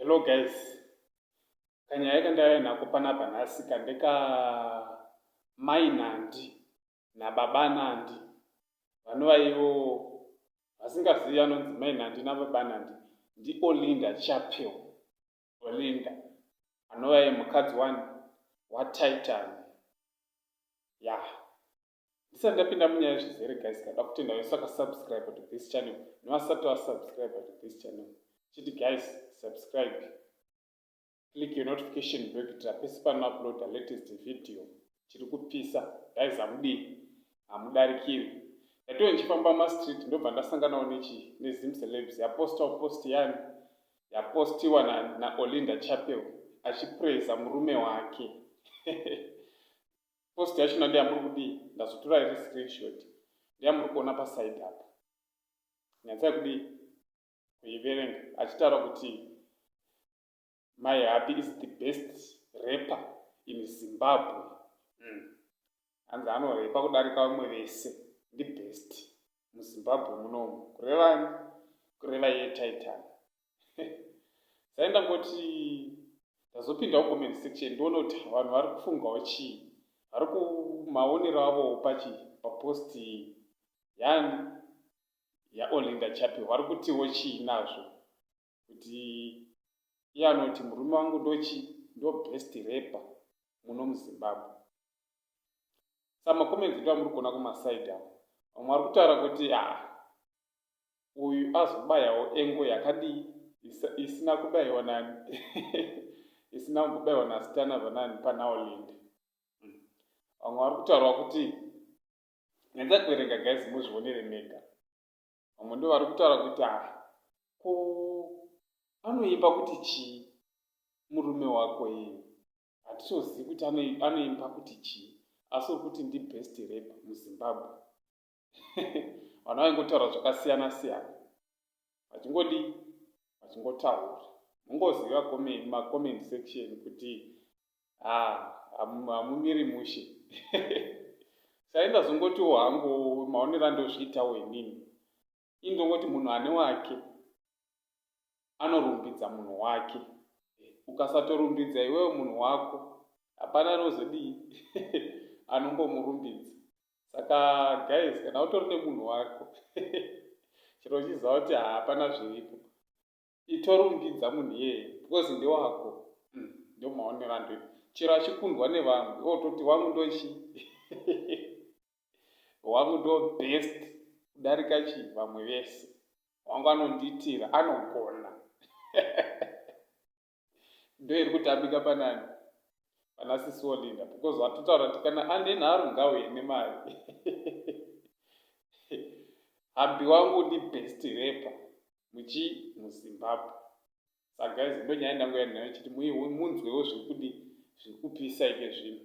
Hello guys, kanyaya kandaiya nako panapa nhasi kandeka mai Nandi nababa Nandi vanova ivo vasingazivi anonzi mai Nandi nababa Nandi ndi Olinda Chapel. Olinda anova ye mukadzi wani waTitan ya yeah. ndisati ndapinda munyaya yezvizere guys kada kutenda vese vakasubscribe to this channel nevasati vasubscribe to this channel chiti guys subscribe click your notification bell kuitira pese panouploada latest video chiri kupisa guys hamudii hamudarikiri ndatiwe ndichifamba mumastreet ndobva ndasanganawo nechi nezim celebs yapostawo post yani yapostiwa naolinda na chapel achipraiza murume wake post yacho na ndeyamuri kudii ndazotora iri screenshot ndeyamuri kuona paside apa nyatsai kudii kuiverenga achitaura kuti my happy is the best rapper in zimbabwe mm. hanzi anorepa kudarika vamwe vese ndi best muzimbabwe munomu kurevani kureva iye titan sai ndangoti ndazopindawo comment section ndoona kuti vanhu vari kufungawo chii vari kumaonero avo pachi papost yan yaolinda chapi vari kutiwo chii nazvo kuti iye anoti murume wangu ndochi ndo best repa muno muzimbabwe samacomments ndo amuri kuona kumasaidi avo vamwe vari kutaura kuti a ah, uyu azobayawo engo yakadii isina kubaiwa nani isina kumbobaiwa nasitana vanani panaolinde hmm. vamwe vari kutaurwa kuti nyanza kuverenga guys muzvionere mega vamwe ndo vari kutaura kuti a ah, ko anoimba kuti chii murume wako iye hatitozivi kuti anoimba kuti chii asi uri kuti ndibest rep muzimbabwe vana vaingotaura zvakasiyana siyana vachingodii vachingotaura mungoziva macomment section kuti ah, hamumiri mushe saindazongotiwo hangu maonero andozviitawo inini indongoti munhu ane wake anorumbidza munhu wake ukasatorumbidza iwewe munhu wako hapana anozodii anongomurumbidza saka guys kana utori nemunhu wako chero uchiziva kuti hapana zviripo itorumbidza munhu iyeye because ndewako hmm, ndomaonera ndoita chero achikundwa nevamwe ototi wangu ndochi Wangu ndo best kudarika chii vamwe vese. Wangu anondiitira anogona. Ndo iri kutambika panani pana sisi Olinda because watotaura kuti kana ane nharo ngauye nemari. Hambi wangu ndi best rapper muchi muZimbabwe. Sa guys ndo nyaya ndangu yandinayo chiti munzwewo zviri kudii zviri kupisa ike zvino.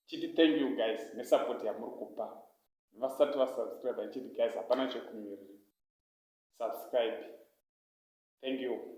chiti thank you guys nesupport yamuri kupa vasati vasubscribe chiti guys hapana chekumirira subscribe thank you